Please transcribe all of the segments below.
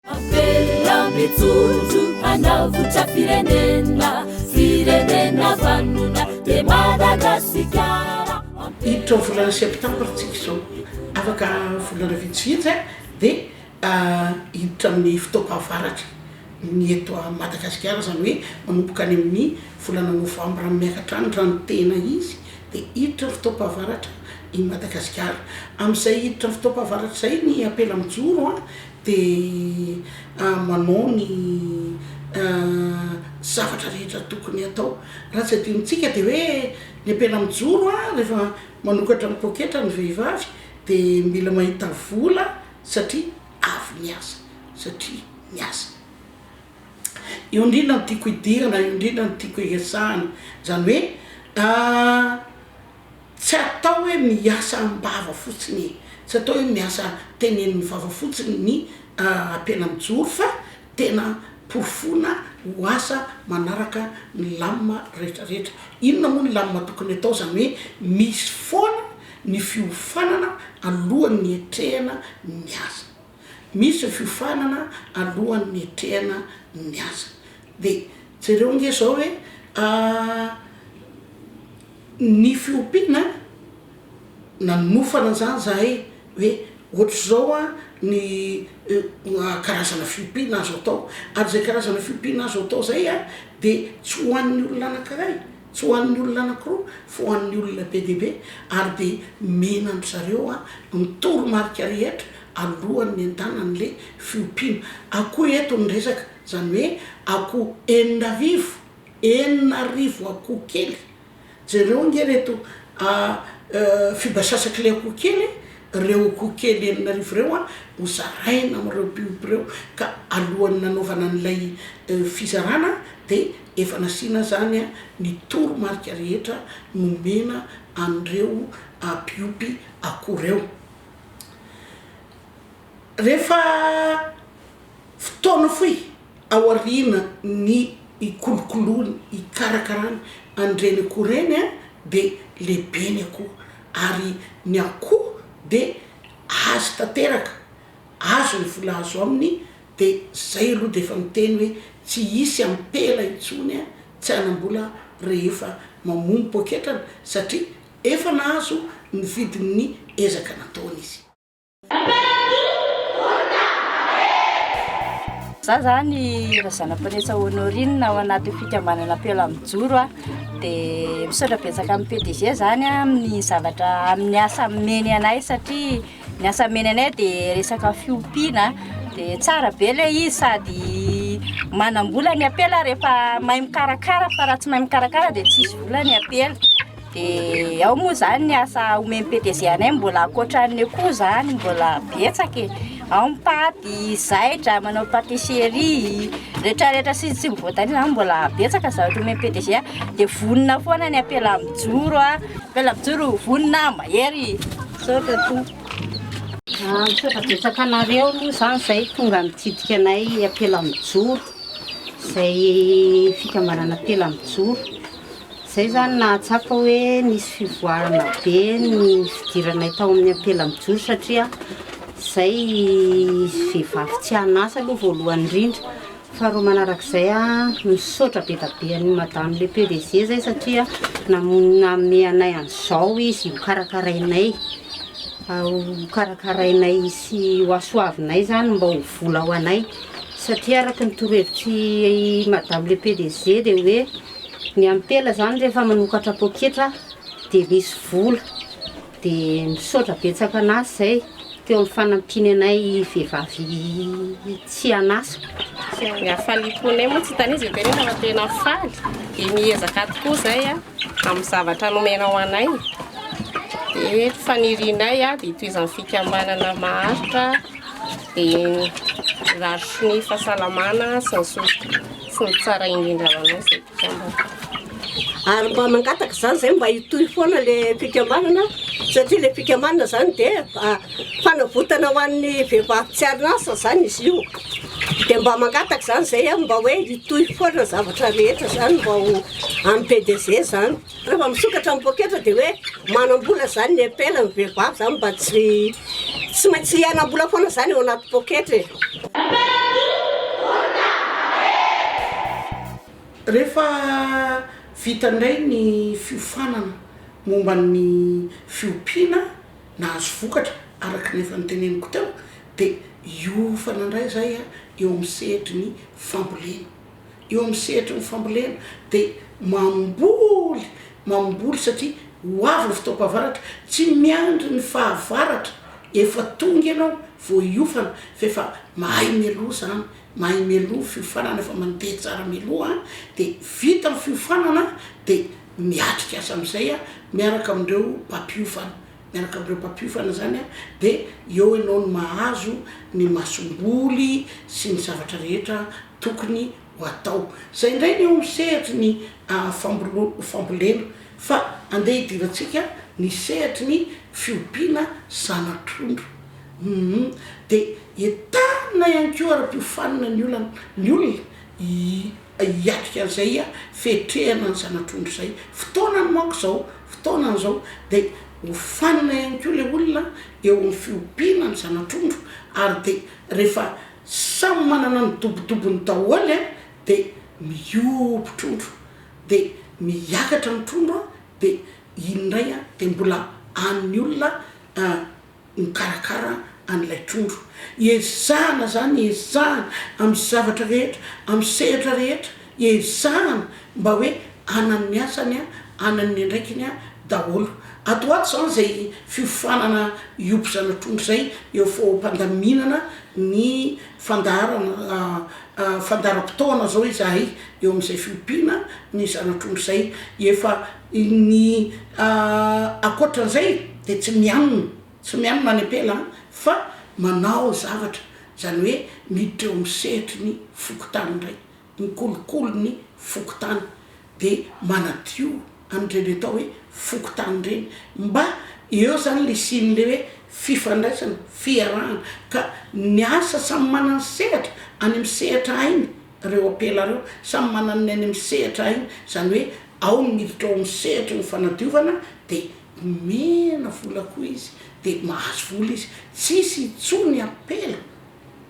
Avelao mijoro hanao votram-pirenena, firenena vanona dia Madagasikara. Hiditra ao volana septambra isika izao, afaka volana vitsivitsy dia hiditra amin'ny fotoam-pahavaratra ny eto Madagasikara, izany hoe manomboka any amin'ny volana novambra miakatra any raha ny tena izy dia hiditra ny fotoam-pahavaratra i Madagasikara. Amin'izay hiditra ny fotoam-pahavaratra izay ny apela mijoro. Dia manao ny zavatra rehetra tokony hatao. Raha tsy adinontsika dia hoe ny ampela mijoro a, rehefa manokatra ny poketra ny vehivavy dia mila mahita vola satria avy niasa, satria niasa. Io indrindra no tiako idirana, io indrindra no tiako iresahana. Izany hoe Tsy atao hoe miasa am-bava fotsiny e! Tsy atao hoe miasa tenenin'ny vava fotsiny ny ampela mijoro fa tena porofoina ho asa manaraka ny lamina rehetra rehetra. Inona moa ny lamina tokony atao? Izany hoe misy foana ny fiofanana alohan'ny hiatrehana ny asa. Misy ny fiofanana alohan'ny niatrehana ny asa. Dia jereo nge izao hoe ny fiompiana nanofana izany izahay hoe ohatr'izao ny karazana fiompiana azo atao ary izay karazana fiompiana azo atao izay dia tsy ho an'ny olona anankiray. Tsy ho an'ny olona anankiroa fa ho an'ny olona be dia be, ary dia mena an-dry zareo ny toromarika rehetra alohan'ny hendahana an'ilay fiompiana akoho eto ny resaka, izany hoe akoho enina arivo, enina arivo akoho kely, jereo ange ireto fibasasak'ilay akoho kely e, ireo akoho kely enina arivo ireo ho zaraina amin'ireo mpiompy ireo, ka alohan'ny nanaovana an'ilay fizarana dia Efa nasiana izany ny toromarika rehetra nomena an'ireo mpiompy akoho ireo. Rehefa fotoana fohy aorianan'ny hikolokoloany, hikarakarany an'ireny akoho ireny dia lehibe ny akoho ary ny akoho dia azy tanteraka, azo ny vola azo aminy. De zay aloha de efa miteny hoe tsy hisy ampela intsony an tsy hanam-bola rehefa mamono poketrany satria efa nahazo ny vidin'ny ezaka nataony izy. Za zany Razanampiresa Honorine ao anatin'ny fikambanana Ampela Mijoro a, de misaotra betsaka amin'ny PDG zany amin'ny zavatra amin'ny asa ameny anay satria, Ny asa menanay dia resaka fiompiana, dia tsara be ilay izy sady manam-bola ny ampela rehefa mahay mikarakara fa raha tsy mahay mikarakara dia tsy hisy vola ny ampela, dia ao moa izany ny asa omem-petezehanay mbola ankoatran'ny akoho izany mbola betsaka e, ao ny paty, zaitra, manao patisserie, retraretra sisa tsy mivoatania izany mbola betsaka zavatra omem-pedezehana, dia vonona foana ny ampela mijoro, ampela mijoro vonona mahery. Misaotra tompoko. Ah, misaotra betsaka anareo aloha zany zay tonga nitsidika anay ampela mijoro, zay fikambanana ampela mijoro. Zay zany nahatsapa hoe nisy fivoarana be ny fidiranay tao amin'ny ampela mijoro satria zay vehivavy tsy an'asa aloha voalohany indrindra, Faharoa manarak'izay misaotra be da be an'i madame le pdg zay satria namono nanome anay an'izao izy ho karakarainay ho karakarainay sy ho hasoavinay zany mba ho vola ho anay satria araky ny torohevitr'i madame le pdg dia hoe ny ampela zany rehefa manokatra poketra dia misy vola Dia misaotra betsaka an'azy izay teo amin'ny fanampiany anay vehivavy tsy an'asa. Ny hafaliam-ponay moa tsy hitan'izy eo be nefa fa tena faly. Dia miezaka tokoa izay amin'ny zavatra nomenao anay. Dia fanirianay dia hitohizan'ny fikambanana maharitra dia mirary sonia fahasalamana sy ny sisa sy ny tsara indrindra ho anao. Ary mba mangataka izany izay mba hitohy foana ilay fikambanana satria ilay fikambanana izany dia fanavotana ho an'ny vehivavy tsy an'asa izany izy io. Dia mba mangataka izany izay aho mba hoe hitohy foana ny zavatra rehetra izany mba ho an'ny PDG izany. Rehefa misokatra ny poketra dia hoe manam-bola zany ny epela ny vehivavy zany mba tsy tsy maintsy hianam-bola foana zany eo anaty poketra e. Rehefa vita indray ny fiofanana momba ny fiompiana nahazo vokatra araka ny efa noteneniko teo dia hiofana indray izay eo amin'ny sehatry ny fambolena. eo amin'ny sehatry ny fambolena dia mamboly, mamboly satria ho avy ny fotoam-pahavaratra, tsy miandry ny fahavaratra efa tonga ianao vao hiofana fa efa mahay mialoha izany, mahay mialoha, fiofanana efa mandeha tsara mialoha, dia vita ny fiofanana dia miatrika azy amin'izay miaraka amin'ireo mpampiofana miaraka amin'ireo mpampiofana izany dia eo ianao no mahazo ny masomboly sy ny zavatra rehetra tokony ho atao. Izay indray ny eo amin'ny sehatry ny fambolena fa andeha hidirantsika ny sehatry ny fiompiana zana-trondro. Dia entanina ihany koa ara-piofanina ny olana ny olona. hiatrika an'izay fiatrehana ny zana-trondro izay fotoanany manko izao fotoanany izao de hofanina ihany koa le olona eo amin'ny fiompiana ny zana-trondro ary de rehefa samy manana ny dobodobony daholo a de mihoby trondro de miakatra ny trondro a de iny indray a de mbola an'ny olona a. mikarakara an'ilay trondro. Ezahana izany, ezahana amin'ny zavatra rehetra, amin'ny sehatra rehetra, ezahana mba hoe anan'ny asany, anan'ny andraikiny daholo. Ato ho ato izany izay fiofanana hiompy zana-trondro izay eo foagmpandaminana ny fandaharana, fandaharam-potoana izao izahay eo amin'izay fiompiana ny zana-trondro izay efa Ny ankoatran'izay dia tsy mianona, tsy mianona any am-pela an, fa manao zavatra, izany hoe miditra eo amin'ny sehatry ny fokontany indray, mikolokolo ny fokontany, dia manadio an'ireny atao hoe fokontany ireny, mba eo izany ilay sian'ilay hoe fifandraisana, fiarahana, ka ny asa samy manana ny sehatra, any amin'ny sehatra hainy, Reo apela reo samy manana ny any amin'ny sehatra ainy, izany hoe ao ny miditra ao amin'ny sehatry ny fanadiovana dia omena vola koa izy dia mahazo vola izy, tsisy intsony apela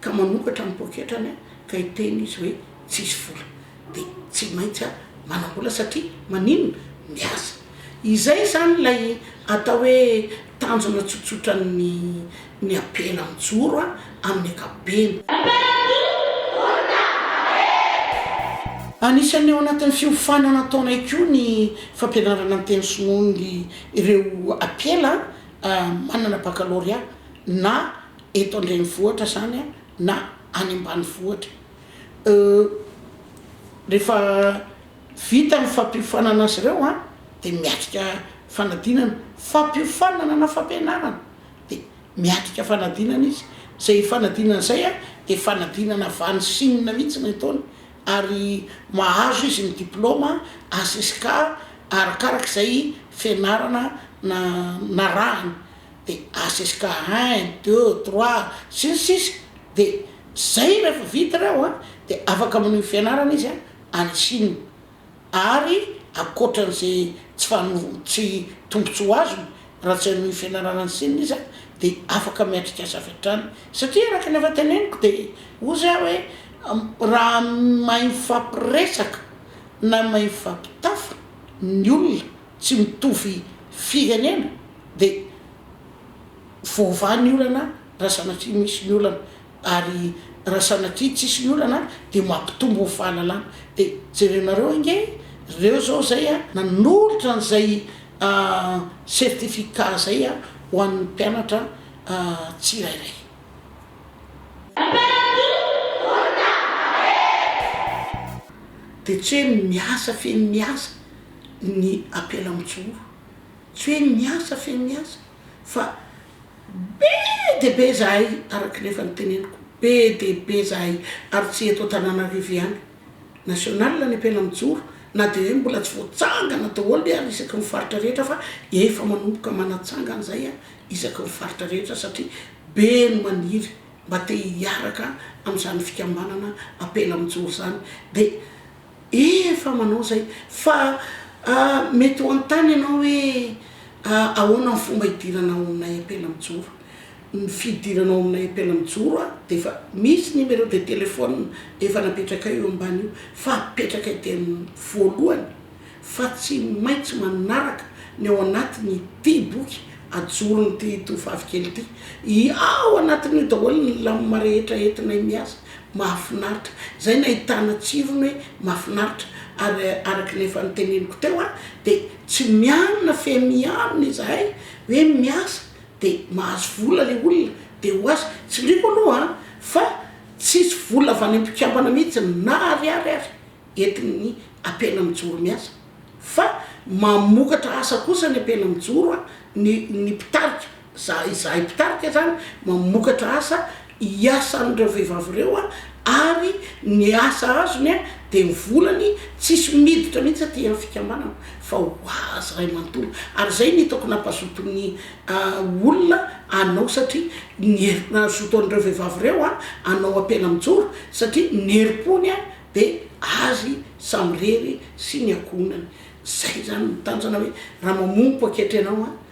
ka manokatra ny poketrany ka hiteny izy hoe tsisy vola dia tsy maintsy manambola satria maninona? miasa. Izay izany ilay atao hoe tanjona tsotsotran'ny. Ny abena mijoro a amin'ny ankapobeny. Anisan'ny ao anatin'ny fiofanana ataonay koa ny fampianarana ny teny sinoa ny ireo ampela manana bakalorea na eto an-drenivohitra zany a na any ambanivohitra rehefa vita ny fampiofanana azy ireo a de miatrika fanadinana, fampiofanana na fampianarana? dia miatrika fanadinana izy, izay fanadinana izay dia fanadinana avy any Chine mihitsy ny ataony ary mahazo izy ny diplaoma HSK arakaraka izay fianarana narahany dia HSK un, deux, trois sy ny sisa dia izay rehefa vita ireo dia afaka manohy ny fianarana izy any Chine. ary ankoatra an'izay tsy fano, tsy tombontsoa azony raha tsy hanohy fianarana ny sininy izy dia afaka miatrikasa avy hatrany satria araka ny efa teneniko dia ozy aho hoe raha mahay mifampiresaka na mahay mifampitafa ny olona tsy mitovy firenena dia voavaha ny olana raha sanatria misy ny olana. Ary raha sanatria tsisy ny olana ary dia mampitombo ny fahalalana. Dia jerenareo ange reo zao zay a, nanolotra an'izay certificat zay a ho an'ny mpianatra tsirairay. Dia tsy hoe miasa feno miasa ny Ampelamontsoro. Tsy hoe miasa feno miasa. fa be dia be izahay araka ny efa noteneniko, be dia be izahay ary tsy eto Antananarivo ihany, national ny ampela mijoro na dia hoe mbola tsy voatsangana daholo ve ary isaky ny faritra rehetra fa efa manomboka manatsangana izay isaky ny faritra rehetra satria be ny maniry mba te hiaraka amin'izany fikambanana ampela mijoro izany dia Efa manao zay fa mety ho anontany ianao hoe ahoana ny fomba hidirana ao aminay ampela mijoro? Ny fidirana ao aminay ampela mijoro a dia efa misy numéro de téléphone efa napetrakay eo ambany io fa apetrakay teny voalohany fa tsy maintsy manaraka ny ao anatin'ity boky ajoron'ity tovovavy kely ity, ao anatin'io daholo ny lamina rehetra entinay miasa. Mahafinaritra. Zay nahitana tsirony hoe mahafinaritra ary araka ny efa noteneniko teo a de tsy mianona fe mianona izahay hoe miasa de mahazo vola le olona de ho azy tsindriako aloha a fa tsisy vola avy any ampikambana mihitsy na ariary ary entin'ny apena mijoro miasa fa mamokatra asa kosa ny apena mijoro a ny ny mpitarika Za izahay mpitarika izany mamokatra asa iasan'ireo vehivavy ireo ary ny asa azony dia ny volany tsisy miditra mihitsy aty amin'ny fikambanana fa ho azy iray manontolo ary izay no hitako nampazoto ny olona anao satria ny herin'azoto an'ireo vehivavy ireo anao ampela mijoro satria ny herim-pony dia azy samirery sy ny ankohonany. Izay izany no tanjona hoe raha mamompoko ankehitriny ianao